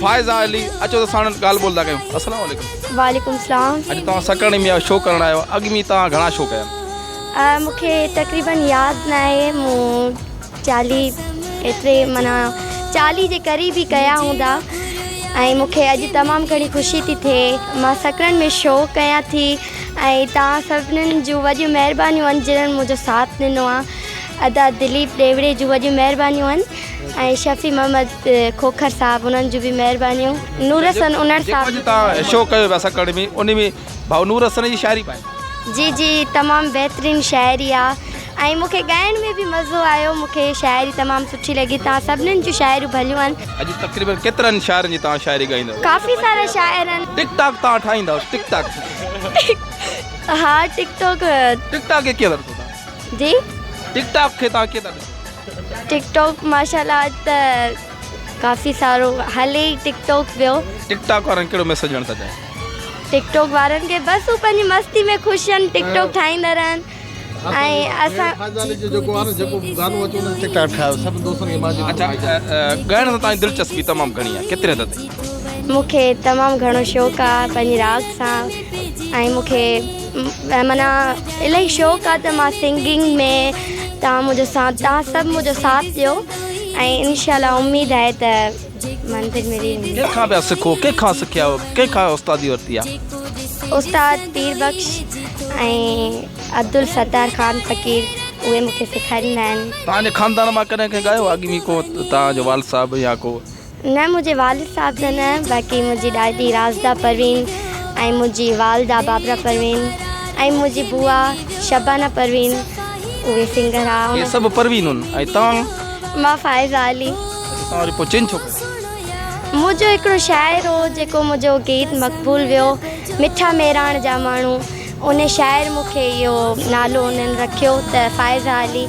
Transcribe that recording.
فائزه علي اچو ته ساڻن ڳالهه ٻولهه ٿا ڪيون السلام عليڪم وعليڪم السلام اڄ توهان سڪڻي ۾ شو ڪرڻ آيو اڳ ۾ توهان گهڻا شو ڪيا آهن مون کي تقريبن ياد نه آهي مون چاليهه ايتري مانا چاليهه جي قريب ئي ڪيا هوندا ۽ مون کي اڄ تمام گهڻي خوشي ٿي ٿئي مان سڪڻن ۾ شو ڪيا ٿي ۽ توهان سڀنن جون وڏيون مهربانيون آهن جنهن منهنجو ساٿ ڏنو آهي ادا دليپ ڏيوڙي جون وڏيون مهربانيون آهن ۽ شفيع محمد کوکر صاحب انهن جون به مهربانيون نور حسن انڙ صاحب جي توهان شو ڪيو پيا سڪڻ ۾ انهي ۾ ڀائو نور حسن جي شاعري پائي. جي جي تمام بهترين شاعري آ ۽ مون کي ڳائڻ ۾ به مزو آيو مون کي شاعري تمام سٺي لڳي توهان سڀنن جون شاعريون ڀليون آهن. اڄ تقريبن ڪيترن شاعرن جي توهان شاعري ڳائيندا. ڪافي سارا شاعر آهن. ٽڪ ٽاڪ توهان ٺاهيندا ٽڪ ٽاڪ. ها ٽڪ ٽاڪ. ٽڪ ٽاڪ کي ڪيئن ٿا ڏسو توهان. جي. ٽڪ ٽاڪ کي توهان ڪيئن ٿا ڏسو. ٽڪ ٽاڪ ماشاءالله ته ڪافي سارو هلي ئي ٽڪ ٽاڪ پيو. ٽڪ ٽاڪ وارن ڪهڙو ميسيج ڏيڻ ٿا چاهين؟ ٽڪ ٽاڪ وارن کي بس هو پنهنجي مستي ۾ خوش آهن ٽڪ ٽاڪ ٺاهيندا رهن ۽ اسان ڳائڻ سان تنهنجي دلچسپي تمام گهڻي آهي ڪيتري حد تائين؟ مون کي تمام گهڻو شوق آهي پنهنجي راڳ سان ۽ مون کي معنيٰ الائي شوق آ ته مان سنگنگ ۾ تان مون جو ساٿ تان سڀ مون جو ساٿ ڏيو ۽ انشاء الله اميد آهي ته منزل ملي ويندي ڪنهن کان پيا سکو ڪنهن کان سکيا آهيو ڪنهن کان استادي ورتي آهي استاد پير بخش ۽ عبدالستار خان فقير اهي مون کي سيکاريندا آهن تان جي خاندان مان ڪڏهن ڪنهن ڳايو آهي اڳ ۾ ڪو تان جو والد صاحب يا ڪو نه منهنجي والد صاحب جا نه باقي منهنجي ڏاڏي راشده پروين ۽ منهنجي والده بابرا پروين ۽ منهنجي بوا شبانه پروين اهي سنگر ها اهي سڀ پروين هن ۽ توهان مان فائزه علي اچا توهان وري پوء چينج ڇو ڪيو منهنجو هڪڙو شاعر هو جيڪو منهنجو گيت مقبول ويو مٺا ميراڻ جا ماڻهو ان شاعر مونکي اهو نالو انهن رکيو ته فائزه علي